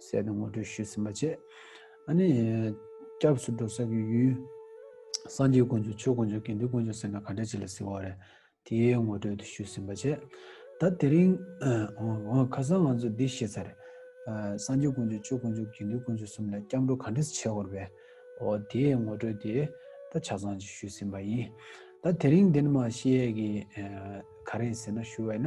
གསལ་དུ་ངོ་སྤྲོད་ཞུས་ཟིན་པ་བཅས། ཨ་ནི། སྐྱབས་སུ་འགྲོ་ས་ཀྱི་ཡུལ། སངས་རྒྱས་དཀོན་མཆོག་ཆོས་དཀོན་མཆོག་དགེ་འདུན་དཀོན་མཆོག་ཟེར་ན་ག་འདྲ་ཅི་ལ་ཟེར་བ་རེད། དེའི་ངོ་སྤྲོད་དུ་ཞུས་ཟིན་པ་བཅས། ད་དེ་རིང། འོང། ཁ་སང་ང་ཚོས་འདི་བཤད་ཚར་རེད། སངས་རྒྱས་དཀོན་མཆོག་ཆོས་དཀོན་མཆོག་དགེ་འདུན་དཀོན་མཆོག་གསུམ་ལ་སྐྱབས་འགྲོ་ག་འདྲས་བྱས་འོར་བས། འོ་དེའི་ངོ་སྤྲོད་དེ་ད་ཆ་ཚང་ཞུས་ཟིན་པ་ཡིན། ད་དེ་རིང་འདི་ནི་མ་ཤེས་ཀྱི། ག་རེད་ཟེར་ན་ཞུ་བས་ན།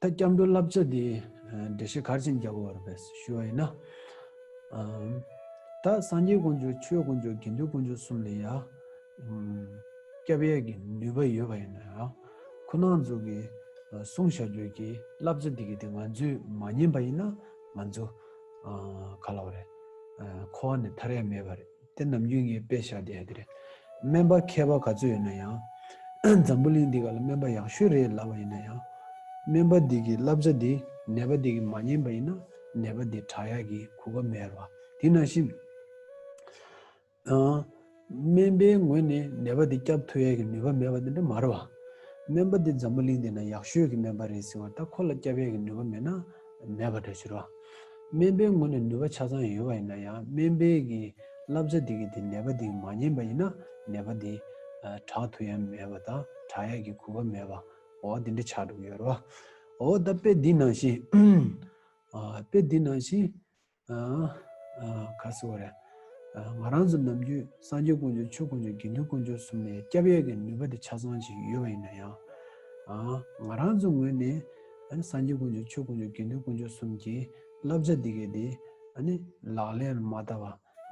ད་སྐྱབས་འགྲོ་བསླབ་བྱ་དེ་འགྲེལ་བཤད་གར་ཆེན་རྒྱལ་པོ་བར་བས་སུ་ཞུ་བ་ཡིན་ན། ད་སངས་རྒྱས་དཀོན་མཆོག་ཆོས་དཀོན་མཆོག་དགེ་འདུན་དཀོན་མཆོག་གསུམ་ལ་ཡང་སྐྱབས་ཡས་ཀྱི་ནུས་པ་ཡོད་པ་ཡིན་ན་ཡང། ཁོ་ནང་ཚུགས་ཀྱི་གསུང་བཤད་རྒྱུད་ཀྱི་བསླབ་བྱ་དེ་གི་དེ་ང་ཚོས་མ་ཉན་པ་ཡིན་ན་ང་ཚོ་ག་ལ་བ་རེད་ཁོ་བ་ནས་ཐར་ཡ་མེད་པ་རེད། དེ་ནམ་རྒྱུན་ངས་དཔེ་བཞག་བསྡད་དེ་རེད། སྨན་པ་མཁས་པ་ག་ཚོད་ཡོད་ན་ཡང། འཛམ་བུ་གླིང་འདི་ག་ལ་སྨན་པ་ཡག་ཤོས་རེད་ལབ་པ་ཡིན་ན་ཡང། སྨན་པ་འདི་གི་བསླབ་བྱ་འདི་ནད་པ་འདི་གི་མ་ཉན་པ་ཡིན་ན་ནད་པ་འདི་དྲག་ཡག་གི་གོ་སྐབས་མེད་རེད་བ། དེ་ནང་བཞིན། སྨན་པའི་ངོས་ནས་ནད་པ་འདི་སྐྱབས་ཐུབ་ཡག་གི་ནུས་པ་མེད་པ་དེ་འདྲ་མ་རེད་བ། སྨན་པ་འདི་འཛམ་བུ་གླིང་འདི་ན་ཡག་ཤོས་གི་སྨན་པ་རེད་ཟེར་བ་ལྟ་ཁོ་ལ་སྐྱབས་ཡག་གི་ནུས་པ་མེད་ན། མེད་པ་འདྲ་ཕྱིར་རོ། སྨན་པའི་ངོ་ནས་ནུས་པ་ཆ་ཚང་ཡོད་པ་ཡིན་ན་ཡང་སྨན་པས་ཀྱི་བསླབ་བྱ་དེ་གིས་དེ་ནད་པ་དེ་མ་ཉན་པ་ཡིན་ན་ནད་པ་དེ་དྲག་ཐུ་ཡང་མེད་པ་དང་དྲག་ཡག་གི་གུས་པ་མེད་པ་འོ་དེ་འདྲ་ཆགས་འགྲོ་གི་ཡོད་རོ། འོ་ད་དཔེ་འདི་ནང་བཞིན། དཔེ་འདི་ནང་བཞིན། ག་སི་ཝ་ར། ང་རང་ཚོ་ནམ་རྒྱུན་སངས་རྒྱས་དཀོན་མཆོག་ཆོས་དཀོན་མཆོག་དགེ་འདུན་དཀོན་མཆོག་གསུམ་ནས་སྐྱབས་ཡས་ཀྱི་ནུས་པ་དེ་ཆ་ཚང་ཞིག་ཡོད་པ་ཡིན་ན་ཡང། ང་རང་ཚོའི་ངོས་ནས་སངས་རྒྱས་དཀོན་མཆོག་ཆོས་དཀོན་མཆོག་དགེ་འདུན་དཀོན་མཆོག་གསུམ་གྱི་བསླབ་བྱ་འདི་གའི་དེ་ལག་ལེན་ལ་མ་བསྟར་བ་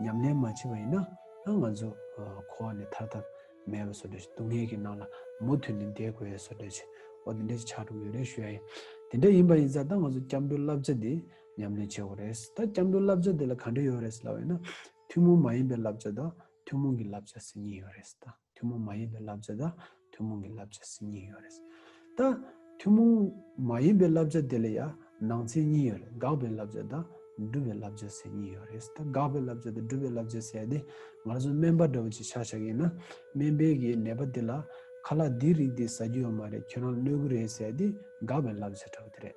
ཉམས་ལེན་མ་བྱས་པ་ཡིན་ན་ང་ཚོ་འཁོར་བ་ནས་ཐར་ཐབས་མེད་པ་བཟོ་འདོད་ཅིག་སྡུག་བསྔལ་གྱི་ནང་ལ་མུ་མཐུད་ནས་འདས་དགོས་བཟོ་འདོད་ཅིག་འོ་དེ་འདྲ་ཅིག་ཆགས་འགྲོ་གི་ཡོད་རེད་ཞུ་ཡ་ཡིན། དེ་འདྲ་ཡིན་པ་ཡིན་ཙང་ད་ང་ཚོ་སྐྱབས་འགྲོའི་བསླབ་བྱ་འདི། ཉམས་ལེན་བྱེད་དགོས་རེད། ད་སྐྱབས་འགྲོའི་བསླབ་བྱ་དེ་ལ་ག་འབྲེལ་ཡོད་རེད་ལབ་ཡོད་ན། ཐུན་མོང་མ་ཡིན་པའི་བསླབ་བྱ་དང་ཐུན་མོང་གི་བསླབ་བྱ་ཟེར་ཉིན་ཡོད་རེད། ད་ཐུན་མོང་མ་ཡིན་པའི་བསླབ་བྱ་དང་ཐུན་མོང་གི་བསླབ་བྱ་ཟེར་ཉིན་ཡོད་རེད། ད་ཐུན་མོང་མ་ཡིན་པའི་བསླབ་བྱ་དེ་ལ་ཡང་ནང་ཚན་གཉིས་ཡོད་རེད་དགག་པའི་བསླབ་བྱ་དང་སྒྲུབ་པའི་བསླབ་བྱ་ཟེར་གཉིས་ཡོད་རེད། ད་དགག་པའི་བསླབ་བྱ་དང་སྒྲུབ་པའི་བསླབ་བྱ་ཟེར་ཡ་དེ་ངར་ཚོ་སྨན་པ་འདྲ་བོ་ཅིག་ཆགས་ཆགས་ཡིན་ན་སྨན་པའི་གི་ནད་པ་དེ་ལ་ཁ་ལག་འདིའི་རིགས་དེ་ཟ་རྒྱུ་ཡོད་མ་རེད་ཁྱོད་རང་གནོད་གི་རེད་ཟེར་ཡ་དེ་དགག་པའི་བསླབ་བྱ་འདྲ་བོ་དེ་རེད།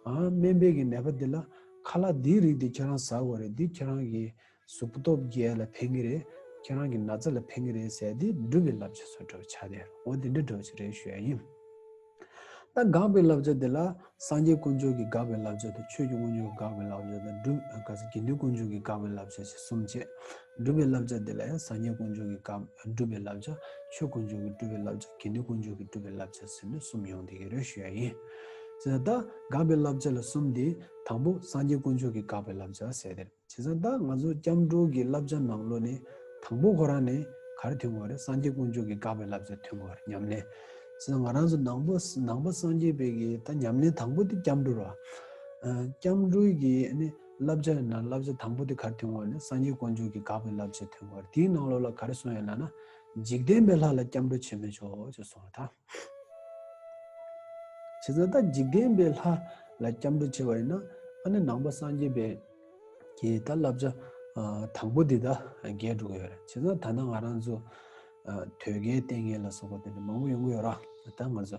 སྨན་པས་གི་ནད་པ་དེ་ལ་ཁ་ལག་འདིའི་རིགས་དེ་ཁྱེད་རང་ཟ་དགོས་རེད་འདི་ཁྱེད་རང་གི་གཟུགས་སྟོབས་རྒྱས་ལ་ཕན་གི་རེད་ཁྱེད་རང་གི་ན་ཚ་ལ་ཕན་གི་རེད་ཟེར་དེ་སྒྲུབ་པའི་བསླབ་བྱ་སོགས་བྲོ་བྱ་དེ་རེད་འོ་དེ་འདྲ་བྲོ་བྱེད་རེད་ཞུ་ཡ་ཡིན། ད་དགག་པའི་བསླབ་བྱ་དེ་ལ་སངས་རྒྱས་དཀོན་མཆོག་གི་དགག་པའི་བསླབ་བྱ་དང་ཆོས་ཀྱི་དབང་ཕྱུག་གི་དགག་པའི་བསླབ་བྱ་དང་སྒྲུབ་དགག་པའི་དགེ་འདུན་དཀོན་མཆོག་གི་དགག་པའི་བསླབ་བྱ་ཞེས་གསུམ་བྱེད། སྒྲུབ་པའི་བསླབ་བྱ་འདི་ལ་ཡང་སངས་རྒྱས་དཀོན་མཆོག་གི་སྐབས་སྒྲུབ་པའི་བསླབ་བྱ། ཆོས་དཀོན་མཆོག་གི་སྒྲུབ་པའི་བསླབ་བྱ་དགེ་འདུན་དཀོན་མཆོག་གི་སྒྲུབ་པའི་བསླབ་བྱ་ཟེར་ནས་གསུམ་ཡོང་སྟེ་ཡེ་རོ་ཤི་ཡཱ་ཡིན། བྱས་ཙང་ད་འགགས་པའི་བསླབ་བྱ་ལ་གསུམ་སྟེ། དང་པོ་སངས་རྒྱས་དཀོན་མཆོག་གི་འགགས་པའི་བསླབ་བྱ་ཟེར། བྱས་ཙང་ད་ང་ཚོ་སྐྱབས་འགྲོ་གི་བསླབ་བྱ་ནང་ལོ་ནས་དང་པོ་ཁོ་རང་ནས་གར་ཐོན་དགོས་རེད་སངས་རྒྱས་དཀོན་མཆོག་གི་འགགས་པའི་བསླབ་བྱ་ཐོན་དགོས་རེད་ཉམས་ལེན། བྱས་ཙང་ང་རང་ཚོ་ནང་པ་ནང་པ་སངས་རྒྱས་པའི་གི་ད་ཉམས་ལེན་དང་པོ་དེ་སྐྱབས་འགྲོ་ར། སྐྱབས་འགྲོའི་གི་ནི། བསླབ་བྱ་ཡི་ནང་བསླབ་བྱ་དང་པོ་དེ་གར་མཐུན་བར་ནི་སངས་རྒྱས་དཀོན་མཆོག་གིས་དགག་པའི་བསླབ་བྱ་མཐུན་བར་དེའི་ནང་ལོགས་ལ་ག་རེ་གསུངས་ཡོད་ལགས་ན། འཇིག་རྟེན་པའི་ལྷ་ལ་སྐྱབས་འགྲོ་བྱེད་མི་ཆོག་ཅེས་གསུངས་བ་དང། བྱས་ཙང་ད་འཇིག་རྟེན་པའི་ལྷ་ལ་སྐྱབས་འགྲོ་བྱེད་པ་ཡིན་ན་ཨ་ནི་ནང་པ་སངས་རྒྱས་པའི་གི་ད་བསླབ་བྱ་དང་པོ་དེ་ད་འགལ་འགྲོ་གི་ཡོད་རེད་བྱས་ཙང་ད་ནང་ང་རང་ཚོ་ཐོད་རྒལ་ལྟས་ངན་ལ་སོགས་པ་དེ་འདྲ་མང་པོ་ཡོང་གི་ཡོད་ར་ད་ང་ཚོ་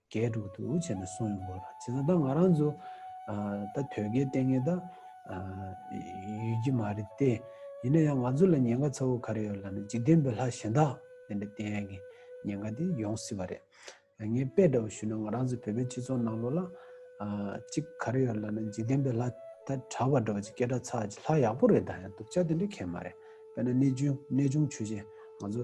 རྒྱས་དྲུག་ཏུ་བྱས་ནས་སོང་ཡོང་དགོས་ལ་བྱས་ཙང་ད་ང་རང་ཚོ་ད་དོལ་རྒྱལ་ལྟས་ངན་ད་ཡོད་ཀྱི་མ་རེད་དེ་ཡིན་ན་ཡང་ང་ཚོ་ལ་ཉེན་ཁ་ཚ་བོ་ག་རེ་ཡོད་ལ་ནི་འཇིག་རྟེན་པའི་ལྷ་གཞན་དག་དེ་འདྲའི་ལྟས་ངན་གྱི་ཉེན་ཁ་དེ་ཡོང་སྲིད་པ་རེད། ངས་དཔེ་འདྲ་བོ་ཞུས་ན་ང་རང་ཚོའི་བོད་པའི་སྤྱི་ཚོགས་ནང་ལོ་ལ་གཅིག་ག་རེ་ཡོད་ལ་ནི་འཇིག་རྟེན་པའི་ལྷ་ད་གྲྭ་བ་འདྲ་བོ་གཅིག་སྐད་སྒྲ་ཚ་གཅིག་ལྷ་ཡག་པོ་རེད་ད་ཡང་སྡུག་ཅག་དེ་འདྲའི་གལ་མ་རེད་དཔེར་ན་གནས་ཆུང་གནས་ཆུང་ཆོས་རྗེ་ང་ཚོ་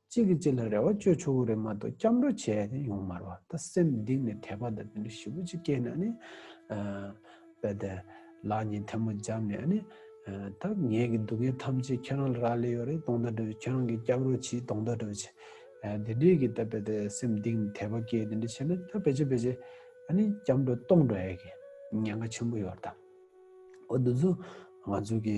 གཅིག་གིས་གཅིག་ལ་རེ་བ་བཅོལ་ཆོག་གི་རེད་མ་གཏོགས་སྐྱབས་འགྲོ་བྱས་ནས་ཡོང་མ་རུང་ད་སེམས་གཏིང་ནས་དད་པ་དང་དེ་འདྲ་ཞིབ་པོ་གཅིག་སྐྱེས་ན་ནི། དཔེ་དེ། ལག་གཉིས་ཐལ་མོ་བརྒྱབ་ནས་ནི། ད་ངེད་ཀྱི་སྡུག་བསྔལ་ཐམས་ཅད་ཁྱེད་རང་ལ་རག་ལས་ཡོད་རེད་སྟོང་ཟླ་འགྲོ་བྱེད་ཁྱེད་རང་གི་སྐྱབས་རོགས་བྱེད་སྟོང་ཟླ་འགྲོ་བྱེད། དེ་འདྲས་ཀྱི་ད་དཔེ་དེ་སེམས་གཏིང་ནས་དད་པ་སྐྱེས་དེ་འདྲ་བྱས་ན་ད་བེད་ཅེ་བེད་ཅེ། སྐྱབས་འགྲོ་སྟོང་འགྲོ་ཨེ་དགོས། ཉེན་ཁ་ཆེན་པོ་ཡོད་ད། འོ་འདི་ཚོ་ང་ཚོ་གི་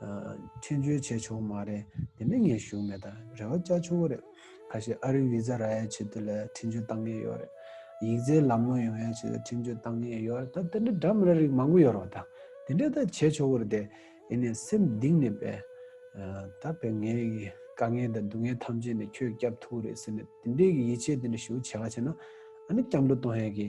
མཆན་བཅོས་བྱས་ཆོག་མ་རེད་དེ་ནི་ངས་ཞུ་མེད་ད་རེ་བ་བཅའ་ཆོག་གི་རེད་ཁ་ཤས་ཨ་རིའི་བི་ཛ་རག་ཡ་ཆེད་དུ་ལ་མཆན་བཅོས་བཏང་ངེས་ཡོད་རེད་ཡིག་རྩལ་ལམ་ལོང་ཡོང་ཡ་ཆེད་དུ་མཆན་བཅོས་བཏང་ངེས་ཡོད་རེད་ད་དེ་འདྲ་འདྲ་མི་ར་རིགས་མང་པོ་ཡོད་རོགས་ད་དེ་འདྲ་ད་བྱས་ཆོག་གི་རེད་དེ་ཡིན་ནས་སེམས་གདིང་ནས་བས་ད་བས་ངའི་དཀའ་ངལ་དང་སྡུག་ངལ་ཐམས་ཅད་ནི་ཁྱོས་བསྐྱབ་ཐུག་གི་རེད་ཟེར་ནས་དེ་འདྲའི་གི་ཡིད་ཆེས་དེ་འདྲ་ཞུ་བྱས་ག་ཆེ་ན་ཨ་ནི་སྐྱབས་འགྲོ་གཏོང་ཡ་གི་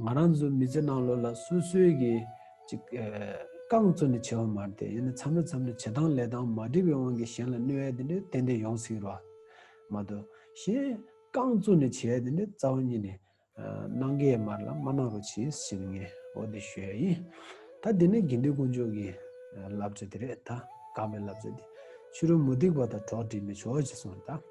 ང་རང་ཚོའི་མི་ཚེ་ནང་ལོ་ལ་སོ་སོའི་གི་ཅིག་རྐང་བཙུགས་ནས་བྱེད་པ་མ་རེད་ཡིན་ན་མཚམས་རེ་མཚམས་རེ་བྱེད་སྟངས་ལས་སྟངས་མ་འགྲིག་པའི་དབང་གིས་གཞན་ལ་གནོད་ཡ་དེ་འདྲས་ཏན་ཏན་ཡོང་སྲིད་རོགས། མ་གཏོགས་གཞན་རྐང་བཙུགས་ནས་བྱེད་ཡ་དེ་འདྲས་རྩ་བ་ཉིད་ནས་གནང་གི་ཡ་མ་རེད་ལ་མ་གནང་རོགས་བྱས་ཟེར་ནས་ངས་འོ་དེ་ཞུ་ཡ་ཡིན། ད་དེ་ནས་དགེ་འདུན་དཀོན་མཆོག་གི་བསླབ་བྱ་དེ་རེད་ད་དགག་པའི་བསླབ་བྱ་དེ་ཕྱི་རོལ་མུ་སྟེགས་པ་དང་གྲོགས་བསྒྲིགས་ནས་ཆོག་ཅེས་གསུངས་རེད་ད།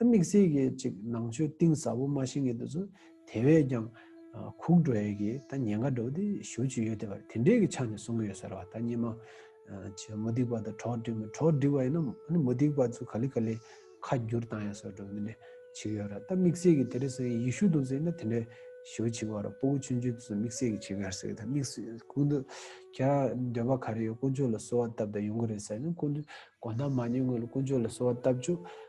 དམིགས་བསལ་གྱི་ཅིག་ནང་ཆོས་གཏིང་ཟབ་པོ་མ་ཤེས་མཁན་དེ་ཚོ་དེ་བས་ཀྱང་ཁུག་འགྲོ་ཡས་ཀྱི་ད་ཉེན་ཁ་འགྲོ་བ་དེ་ཞུ་བྱུས་ཡོད་དེ་བར་དེ་འདྲས་ཀྱི་ཆ་ནས་གསུང་གི་ཡོད་ཟེར་བ་ད་སྙེ་མ་ཆེ་མུ་སྡིག་པ་དང་གྲོགས་སྒྲིག་མི་གྲོགས་སྒྲིག་བ་ཡིན་ན་ནི་མུ་སྡིག་པ་ཚོ་ག་ལི་ག་ལི་ཁ་བསྒྱུར་བཏང་ཡས་ཟེར་བ་འགྲོ་མི་ནི་བྱུས་ཡོད་ར་ད་དམིགས་བསལ་གྱི་དེ་རེ་ཟེར་ཡིན་ཡིག་ཤུག་དང་ཟེར་ཡིན་ན་དེ་འདྲས་ཞུ་བྱུས་བ་ར་སྤོ་བོ་ཆུང་ཆུང་དེ་ཚོ་དམིགས་བསལ་གྱི་ཆེད་གར་ཟེར་གི་ད་དམིགས་བསལ་ཀུན་ཏུ་ཁྱེད་ར་འདོད་པ་ག་རེ་ཡོད་དཀོན་མཆོག་ལ་གསོལ་བ་བཏབ་ད་ཡོང་གི་རེད་ཟེར་ཡིན་ན་ཀུན་ཏུ་དགོངས་དག་མ་ཉོས་ངོས་ལ་ཀུན་མཆོག་ལ་གསོལ་བ་བཏབ་ཆུ།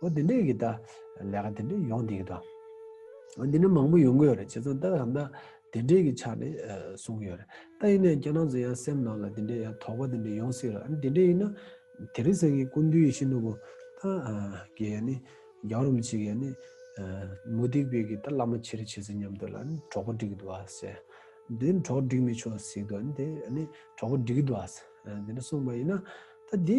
ཨོ་དེ་འདྲའི་གི་ད་ལས་ཀ་དེ་འདྲའི་ཡོང་དེ་གི་ད། ཨོ་འདི་འདྲའི་མང་པོ་ཡོང་གི་ཡོད་རེད་བྱས་ཙང་ད་ག་ད་དེ་འདྲའི་གི་ཆ་ནས་གསུང་གི་ཡོད་རེད། ད་ཡིན་ན་ཡང་རྒྱ་ནག་ཚོ་ཡང་སེམས་ནང་ལ་དེ་འདྲའི་ཡང་དོགས་པ་དེ་འདྲའི་ཡོང་སྲིད་རེད། ཨ་ནི་དེ་འདྲའི་ཡིན་ན་དེ་རིང་སང་གི་ཀུན་འདུས་ཡེ་ཤེས་ནོར་བུ་ད་གི་ཡ་ནི་རྒྱ་རོམ་གྱི་ཡ་ནི་མུ་སྟེགས་པའི་གི་ད་བླ་མ་ཆེ་རེ་བྱས་ཚེ་ཉམས་དོད་ལ་ཨ་ནི་གྲོགས་པོ་འགྲིག་གི་འདུག་ཨ་ཟེར། དེ་ནི་གྲོགས་འགྲིག་མི་ཆོག་ཟིག་འདུག་ཨ་ནི་དེ་ཨ་ནི་གྲོགས་པོ་འགྲིག་གི་འདུག་ཨ་ཟེར། དེ་འདྲ་གསུངས་པ་ཡིན་ན་ད་དེ།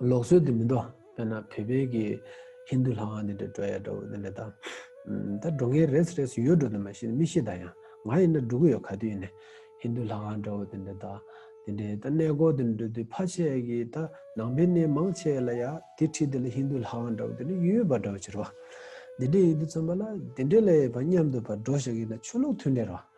ལོག་སྲོལ་དེ་མི་འགྲོ་དཔེར་ན་བོད་པའི་གི་ཧིན་དུ་ལྷ་ཁང་དེ་འདྲ་འགྲོ་ཡ་འགྲོ་དེ་འདྲ་དང། ད་འགྲོ་མཁན་རེས་རེས་ཡོད་འགྲོ་དེ་མ་ཤེས་མི་ཤེས་ད་ཡང་ང་ཡིན་ན་འགྲོ་གི་ཡོད་ག་དུས་ཡིན་ནས་ཧིན་དུ་ལྷ་ཁང་འདྲ་བོ་དེ་འདྲ་དང་དེ་འདྲའི་ད་གནས་སྐོར་དེ་འགྲོ་དུས་ཕ་ཆད་གི་ད་ནང་པའི་གནས་མང་ཆད་ལ་ཡ་དེ་ཁྲིད་དེ་ལ་ཧིན་དུ་ལྷ་ཁང་འདྲ་བོ་དེ་འདྲ་ཡོད་ཡོད་པ་འདྲ་བོ་བྱེད་རོགས། དེ་འདྲ་ཡིན་དུས་ཚང་མ་ལ་དེ་འདྲའི་ལ་ཡོད་པ་མཉམ་དུ་བ་འགྲོ་ཞག་གི་ན་ཆོས་ལུགས་མཐུན་འབྲེལ་རོགས།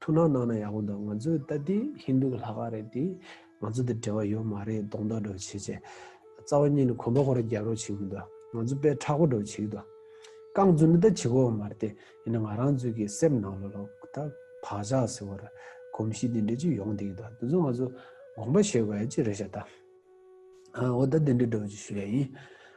ཐུགས་སྣང་གནང་ན་ཡག་པོ་འདུག་ང་ཚོའི་ལྟ་དེ་ཧིན་དུ་གི་ལྷ་ཁང་རེད་དེ། ང་ཚོ་དེ་འབྲེལ་བ་ཡོད་མ་རེད་གདོང་གཏོགས་འགྲོ་བྱེད་ཅེས། རྩ་བ་གཉིས་ནི་གོམ་པ་ཁོ་ར་རྒྱབ་རོགས་བྱེད་མི་འདུག་ང་ཚོ་དཔེ་ཁྲག་པོ་འགྲོ་བྱེད་ཀྱི་འདུག། རྐང་བཙུན་ནི་ད་བྱེད་དགོས་པ་མ་རེད་དེ། ཡིན་ན་ང་རང་ཚོའི་གི་སེམས་ནང་ལ་ལོག་ད་བག་ཆགས་ཟེར་བ་ར་གོམས་གཤིས་དེ་འདྲས་ཅིག་ཡོང་བསྡད་ཀྱི་འདུག་དེ་ཚོ་ང་ཚོ་དགོངས་པ་བཞེས་དགོས་ཡ་ཅིག་རེད་བྱ་ད། འོ་ད་དེ་འདྲས་འགྲོ་བྱེད་ཞུ་ཡ་ཡིན།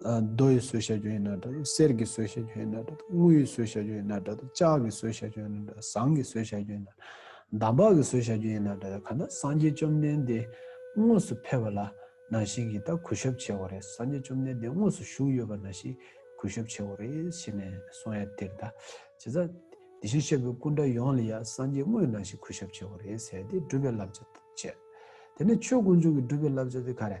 རྡོ་ཡི་ཟོས་བཤད་རྒྱུ་ཡིན་ན་འདྲ་དང་གསེར་གྱི་ཟོས་བཤད་རྒྱུ་ཡིན་ན་འདྲ་དང་དངུལ་ཡི་ཟོས་བཤད་རྒྱུ་ཡིན་ན་འདྲ་དང་ལྕགས་ཀྱི་ཟོས་བཤད་རྒྱུ་ཡིན་ན་འདྲ་ཟངས་ཀྱི་ཟོས་བཤད་རྒྱུ་ཡིན་ན་འདྲ་འདམ་བག་གི་ཟོས་བཤད་རྒྱུ་ཡིན་ན་འདྲ་གང་ལྟར་སངས་རྒྱས་བཅོམ་ལྡན་འདས་དངོས་སུ་ཕེབས་པ་ལ་ན་ཞིག་ཡི་དྭགས་གུས་ཞབས་བྱེད་འོ་རེད་སངས་རྒྱས་བཅོམ་ལྡན་འདས་དངོས་སུ་བཞུགས་ཡོད་པ་ན་ཞིག་གུས་ཞབས་བྱེད་འོ་རེད་ཞེས་ནས་གསུང་ཡ་དེར་ད་བྱས་ཙང་དེ་བཞིན་གཤེགས་པའི་སྐུ་འདྲ་ཡོངས་ལ་ཡང་སངས་རྒྱས་དངོས་ན་ཞིག་གུས་ཞབས་བྱེད་འོ་རེད་ཟེར་ཏེ་སྒྲུབ་པའི་བསླབ་བྱ་བྱས། དེ་ནས་ཆོས་དཀོན་མཆོག་གི་སྒྲུབ་པའི་བསླབ་བྱ་དེ་ག་རེ།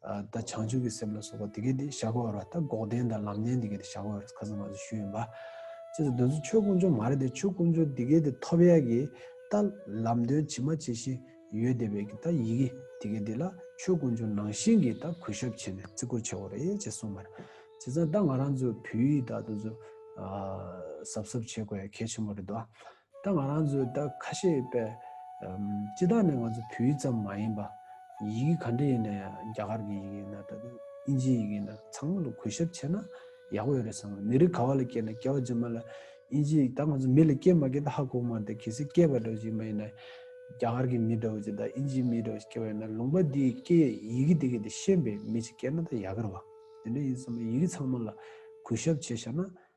ད་བྱང་ཆུབ་ཀྱི་སེམས་ལ་སོགས་པ་དེ་སྐད་དེ་བཞག་གོ་བར་བ་ད་འགོག་བདེན་དང་ལམ་བདེན་དེ་སྐད་དེ་བཞག་གོ་བར་ཁ་ཟུར་མ་ཟུར་ཞུས་ཡོན་པ། ཅེས་སོ་འདོན་ཚུལ་ཆོས་ཀུན་སྦྱོར་མ་རེད་དེ་ཆོས་ཀུན་སྦྱོར་དེ་སྐད་དེ་ཐོབ་ཡ་གི་ད་ལམ་དོན་ཇི་མ་ཇི་བཞིན་ཡོད་དེ་བས་ཀྱི་ད་ཡི་གི་དེ་སྐད་དེ་ལ་ཆོས་ཀུན་སྦྱོར་ནང་བཞིན་གྱི་ད་གུས་ཞབས་བྱེད་ནས་བརྩི་བཀུར་བྱེད་གོ་རེ་ཅེས་གསུངས་པར། བྱས་ཙང་ད་ང་རང་ཚོ་བོད་ཡིག་དག་ཏུ་ཟབ་ཟབ་བྱེད་དགོས་ཡ་གལ་ཆེན་པོ་རེད་དོ། ད་ང་རང་ཚོས་ད་ཁ་ཤས་པས་སྤྱི་བཏང་ནས་ང་ཚོ་བོད་ཡིག་ཙམ་མ་ཡིན་པ། ཡི་གེ་ག་འདྲ་ཡིན་ན་ཡང་རྒྱ་གར་གྱི་ཡི་གེ་ཡིན་ན་ད་དུང་ཨིན་ཇིའི་ཡི་གེ་ཡིན་ན་ཚང་མ་ལ་གོ་ཞབས་བྱས་ན་ཡག་པོ་ཡོད་རེད་བསམ། མི་རིགས་ག་བ་ལ་སྐྱེས་ན་སྐྱེ་བ་རྗེས་མ་ལ་ཨིན་ཇིའི་ཡིག་ད་ང་ཚོ་མི་ལ་སྐྱེས་མ་སྐྱེས་ད་ཧ་གོ་མ་འདུག་གལ་སྲིད་སྐྱེས་པ་འདྲ་བོ་ཞིག་མ་ཡིན་ན་རྒྱ་གར་གྱི་མི་འདྲ་བོ་ཞིག་ད་ཨིན་ཇིའི་མི་འདྲ་བོ་ཞིག་སྐྱེས་པ་ཡིན་ན་ལུང་པ་འདིའི་སྐད་ཡི་གེ་དེ་ག་དེ་ཤེས་པའི་མི་ཞིག་སྐྱེས་ན་ད་ཡག་གི་རེད་བ། དེ་འདྲ་ཡིན་བསམ་ཡི་གེ་ཚང་མ་ལ་གོ་ཞབས་བྱས་ཤག་ན་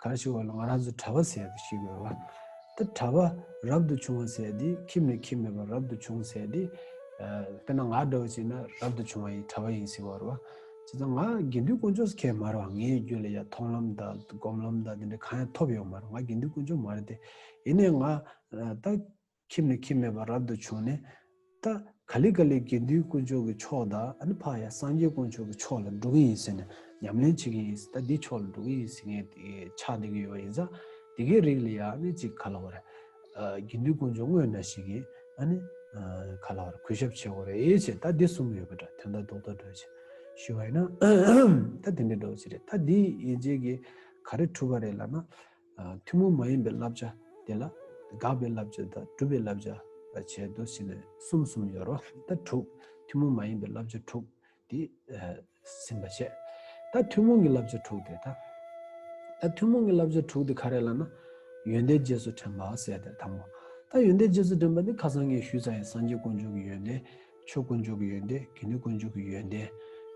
ག་རེ་ཞིག་བ་ལ་ང་རང་ཚོས་གྲྭ་བ་ཟེར་ཏེ་ཞིག་ཡོད་ལ། དེ་གྲྭ་བ་རབ་ཏུ་བྱུང་བ་ཟེར་དེ་ཁྱིམ་ནས་ཁྱིམ་མེད་པར་རབ་ཏུ་བྱུང་ཟེར་དེ། དཔེར་ན་ང་འདྲ་བ་ཞིག་ན་རབ་ཏུ་བྱུང་བ་ཡིན་གྲྭ་བ་ཡིན་ཟེར་བ་རེད་བ། བྱས་ཙང་ང་དགེ་འདུན་དཀོན་མཆོག་སྐྱེས་མ་རེད་བ་ངའི་རྒྱུད་ལ་ཡ་མཐོང་ལམ་དང་སྒོམ་ལམ་དང་དེ་འདྲ་གང་ཡང་ཐོབ་ཡོད་མ་རེད་ང་དགེ་འདུན་དཀོན་མཆོག་མ་རེད་དེ། ཡིན་ནའི་ང་ད། ཁྱིམ་ནས་ཁྱིམ་མེད་པར་རབ་ཏུ་བྱུང་ནས། ཏཱ་ག་ལི་ཀ་ལའི་དགེ་འདུན་དཀོན་མཆོག་གི་ཕྱོགས་དང་འཕགས་ཡ་སངས་རྒྱས་དཀོན་མཆོག་གི་ཕྱོགས་ལ་འགྲོ་གི་ཡིན་ཟེར་ནས་ཉམས་ལེན་བྱེད་ཀྱི་ཡིན་ཟེར་ད་འདིའི་ཕྱོགས་ལ་འགྲོ་གི་ཡིན་ཟེར་མཁན་དེ་ཆགས་བསྡད་ཀྱི་ཡོད་པ་ཡིན་ཙང་དེ་གའི་རིགས་ལ་ཡང་ནི་ཅིག་ག་ལ་བར། དགེ་འདུན་དཀོན་མཆོག་དངོས་ན་ཞིག་གིས་ཨ་ནི། ག་ལ་བར་གུས་ཞབས་བྱེད་དགོས་རེད་ཨེ་བྱེད་ད་འདི་གསུམ་ཡོད་པ་འདྲ་དོན་དག་རྡོག་རྡོག་སྒྲོལ་བྱེད། ཞུས་བ་ཡིན་ན། ད་དེ་འདྲའི་སྒྲོག་བྱེད་རེད་ད་འདི་ཡིན་བྱེད་ཀྱི་ག་རེ་འཁྲུལ་བ་རེད་ལབ་ན། ཐུན་མོང་མ་ཡིན་པའི་བསླབ་བྱ་དེ་ལ་དགག་པའི་བསླབ་བྱ་དང་སྒྲུབ་པའི་བསླབ་བྱ་བྱའི་མདོ་ཕྱེ་ནས་གསུམ་གསུམ་ཡོད་རོ། ད་དྲུག། ཐུན་མོང་མ་ཡིན་པའི་བསླབ་བྱ་དྲུག་དེ་ཟིན་པར་བཤད། ད་ཐུན་མོང་གི་བསླབ་བྱ་དྲུག་དེ་དང། ད་ཐུན་མོང་གི་བསླབ་བྱ་དྲུག་དེ་ག་རེ་ལ་ན། ཡོན་ཏན་རྗེས་སུ་དྲན་པ་བསལ་དེ་དང་པོ། ད་ཡོན་ཏན་རྗེས་སུ་དྲན་པ་ནི་ཁ་སང་ངས་ཞུས་ཚར་ཡང་སངས་རྒྱས་དཀོན་མཆོག་གི་ཡོན་ཏན་ཆོས་དཀོན་མཆོག་གི་ཡོན་ཏན་དགེ་འདུན་དཀོན་མཆོག་གི་ཡོན་ཏན།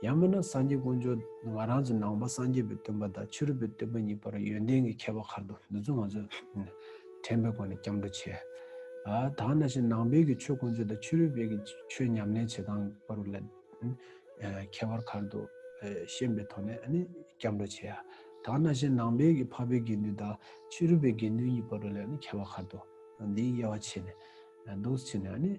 ཡང་མིན་ན་སངས་རྒྱས་དཀོན་མཆོག་ང་རང་ཚོ་ནང་པ་སངས་རྒྱས་པའི་སྟོན་པ་དང་ཕྱི་རོལ་པའི་སྟོན་པ་གཉིས་བར་ཡོན་ཏན་གྱི་ཁྱད་པར་གར་འདུག་འདི་ཚོ་ང་ཚོས་དྲན་པའི་སྒོ་ནས་སྐྱབས་འགྲོ་བྱེད་ཨ། དག་ན་བཞིན་ནང་པའི་གི་ཆོས་དཀོན་མཆོག་དང་ཕྱི་རོལ་པའི་གི་ཆོས་ཉམས་ལེན་བྱེད་སྟངས་གི་བར་ལ་ཁྱད་པར་གར་འདུག་ཤེས་པའི་ཐོག་ནས་སྐྱབས་འགྲོ་བྱེད་ཨ། དག་ན་བཞིན་ནང་པའི་གི་འཕགས་པའི་དགེ་འདུན་དང་ཕྱི་རོལ་པའི་དགེ་འདུན་གཉིས་བར་ལ་ཁྱད་པར་གར་འདུག་འདིའི་དབྱེ་བ་ཕྱེ་ནས་འདུག་ཕྱེ་ནས་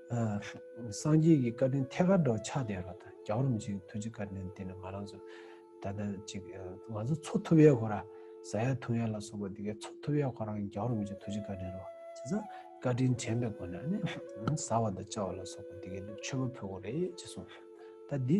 སངས་རྒྱས་ཀྱི་བཀའ་དྲིན་ཐད་ཀར་འགྲོ་ཆགས་བསྡད་ལ་ད་རྒྱ་རོམ་གྱི་ཐུགས་རྗེ་བཀའ་དྲིན་དེ་ནི་ང་རང་ཚོ་ད་ལྟ་ཅིག་ང་ཚོ་འཚོ་ཐུབ་ཡས་གོ་ར་ཟ་ཡས་ཐུབ་ཡས་ལ་སོགས་པ་འདི་གའི་འཚོ་ཐུབ་ཡས་ཁོ་རང་རྒྱ་རོམ་གྱི་ཐུགས་རྗེ་བཀའ་དྲིན་རོ་བྱས་ཙང་བཀའ་དྲིན་དྲན་པའི་སྒོ་ནས་ནི་ཟ་བ་དང་བཅའ་བ་ལ་སོགས་པ་འདི་གའི་ནི་མཆོད་པ་ཕུལ་གོ་རེ་ཅེས་གསུངས། ད་འདི།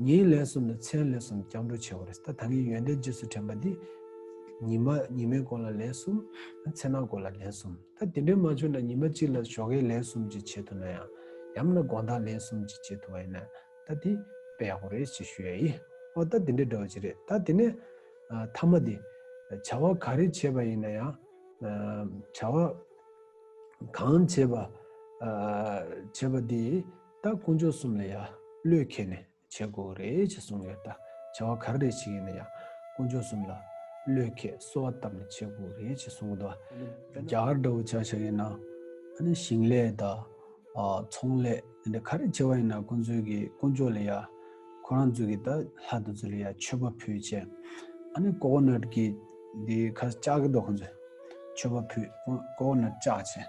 ཉིན་ལས་གསུམ་ནས་མཚན་ལས་གསུམ་སྐྱབས་འགྲོ་བྱེད་པ་རེད། ད་ད་ངའི་ཡོན་ཏན་རྗེས་སུ་དྲན་པ་འདི། ཉི་མ་ཉི་མའི་སྐོར་ལ་ལན་གསུམ། མཚན་མ་སྐོར་ལ་ལན་གསུམ། ད་དེ་འདྲས་མ་བྱུང་ན་ཉི་མ་གཅིག་ལ་ཞོགས་ཀའི་ལན་གསུམ་ཅིག་བྱེད་ཐུབ་ན་ཡང། ཡང་ན་དགོངས་དག་ལན་གསུམ་ཅིག་བྱེད་ཐུབ་པ་ཡིན་ན། ད་དེ་དཔེ་ཡག་པོ་རེད་ཅེས་ཞུ་ཡ་ཡིན། ཨོ་ད་དེ་འདྲས་འདྲ་བ་ཅིག་རེད་ད་དེ་ནས། མཐའ་མ་དེ། བྱ་བ་ག་རེ་བྱེད་པ་ཡིན་ན་ཡང། བྱ་བ། གང་བྱེད་པ། བྱེད་པ་དེ། ད་དཀོན་མཆོག་གསུམ་ལ་ཡང་བློས་འཁེལ་ནས་བྱེད་དགོས་ཀྱི་རེད་ཅེས་གསུངས་ཡོད་ད་བྱ་བ་ག་རེ་རེ་བྱེད་ཀྱི་ཡིན་ན་ཡང་དཀོན་མཆོག་གསུམ་ལ་བློས་འཁེལ་གསོལ་བ་བཏབ་ནས་བྱེད་དགོས་ཀྱི་རེད་ཅེས་གསུངས་ཡོད་ད། རྒྱ་གར་འདྲ་བོ་བྱ་བྱེད་ཡིན་ན་ཞིང་ལས་དང། ཚོང་ལས་འདི་འདྲ་ག་རེ་བྱེད་པ་ཡིན་ན་ཁོང་ཚོས་ཀྱི་དཀོན་མཆོག་ལ་ཡང་ཁོ་རང་ཚོས་ཀྱི་ད་ལྷ་དང་ཚུལ་ལ་ཡང་མཆོད་པ་ཕུལ་ཅེས་ཨ་ནི་ཀོ་ཀོ་ནོད་ཀྱི་འདི་ཁ་བཅག་གི་འདུག་ཁོང་ཚོས་མཆོད་པ་ཕུལ་ཀོ་ཀོ་ནོད་བཅག་ཅེས།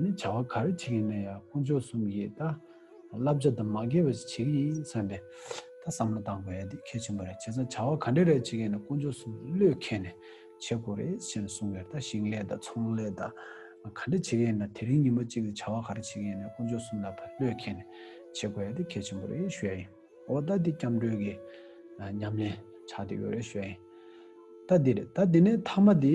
ནི་བྱ་བ་ག་རེ་བྱེད་ཀྱིན་ན་ཡང་དཀོན་མཆོག་གསུམ་གྱིས་ད་བསླབ་བྱ་དང་མ་འགལ་བ་ཞིག་བྱེད་ཀྱི་ཡིན་བསམ་པའི་ད་བསམ་བློ་གཏང་དགོས་ཡ་འདི་གལ་ཆེན་པོ་རེད་བྱས་ཙང་བྱ་བ་ག་འདྲ་རེ་བྱེད་ཀྱིན་ན་དཀོན་མཆོག་གསུམ་བློས་འཁེལ་ནས་བྱེད་དགོས་རེད་ཅེས་གསུངས་ཡོད་ད་ཞིང་ལས་དང་ཚོང་ལས་དང་ག་འདྲ་བྱེད་ཀྱིན་ན་དེ་རིང་ཉིན་མོ་གཅིག་ལ་བྱ་བ་ག་རེ་བྱེད་ཀྱིན་ན་དཀོན་མཆོག་གསུམ་ལ་ད་བློས་འཁེལ་ནས་བྱེད་དགོས་ཡ་འདི་གལ་ཆེན་པོ་རེད་ཞུས་ཡིན་འོ་ད་འདི་སྐྱབས་འགྲོས་ཀྱི་ཉམས་ལེན་བྱ་འདོད་ཡོད་རེད་ཞུས་ཡིན་ད་འདི་རེད་ད་འདི་ནས་མཐའ་མ་འདི།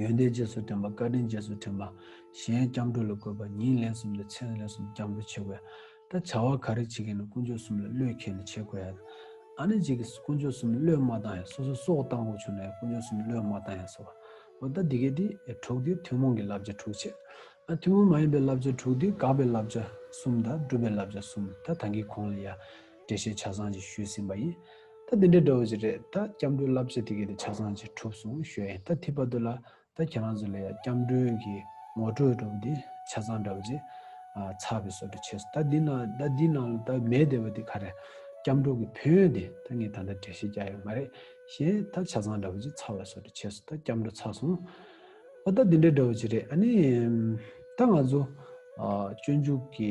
ཡོན་ཏན་རྗེས་སུ་དྲན་པ་བཀའ་དྲིན་རྗེས་སུ་དྲན་པ། གཞན་སྐྱབས་འགྲོ་ལ་བཀོད་པ་ཉིན་ལན་གསུམ་དང་མཚན་ལན་གསུམ་སྐྱབས་འགྲོ་བྱེད་དགོས། ད་བྱ་བ་ག་རེ་བྱེད་མཁན་ནི་དཀོན་མཆོག་གསུམ་ལ་བློས་མཁས་ནས་བྱེད་དགོས། ཨ་ནེ་ཅིག་གིས་དཀོན་མཆོག་གསུམ་ལ་བློས་མ་བཏང་ཡང་སོ་སོའི་སྲོག་བཏང་དགོས་བྱུང་ན་ཡང་དཀོན་མཆོག་གསུམ་ལ་བློས་མ་བཏང་ཡང་བཟོ། འོ་ད་འདི་གས་དེས་དྲུག་དུས་ཐུན་མོང་གི་བསླབ་བྱ་དྲུག་བྱས། ཨ་ཐུན་མོང་མ་ཡིན་པའི་བསླབ་བྱ་དྲུག་དུས་དགག་པའི་བསླབ་བྱ་གསུམ་དང་སྒྲུབ་པའི་བསླབ་བྱ་གསུམ་ད་ད་གིས་གོང་ལ་ཡ། འགྲེལ་བཤད་ཆ་ཚང་ཞིག་ཞུས་ཟིན་པ་ཡིན། ད་དེ་འདྲའི་འདྲ་བོ་ཞིག་རེད། ད་སྐྱབས་འགྲོའི་བསླབ་བྱ་དེ་གས་དེ་ཆ་ཚང་ཞིག་གྲུབ་སོང་ཞོད་ཡིན། ད་ཐིག་པ་དུ་ལ། ད་ཁྱེད་རང་ཚོ་ལ་ཡང་སྐྱབས་འགྲོའི་གི་ངོ་སྤྲོད་གྲུབ་འདི་ཆ་ཚང་འདྲ་བོ་ཅིག། ཚགས་པའི་སོ་དྲི་བྱས་སོ། ད་འདི་ན་ད་འདི་ནང་ལ་ད་མེད་བསྡད་པ་འདི་ག་རེད། སྐྱབས་འགྲོ་གི་ཕན་ཡོན་འདི་ད་ངས་ད་ལྟ་འགྲེལ་བཤད་རྒྱག་ཡོད་མ་རེད། ཞེས་ད་ཆ་ཚང་འདྲ་བོ་ཅིག་ཚགས་པའི་སོ་དྲི་བྱས་སོ། ད་སྐྱབས་འགྲོ་ཚར་སོང། ཨོ་ད་འདི་འདྲའི་འདྲ་བོ་ཅིག་རེད། ཨ་ནི། ད་ང་ཚོ། སྤྱོད་འཇུག་གི།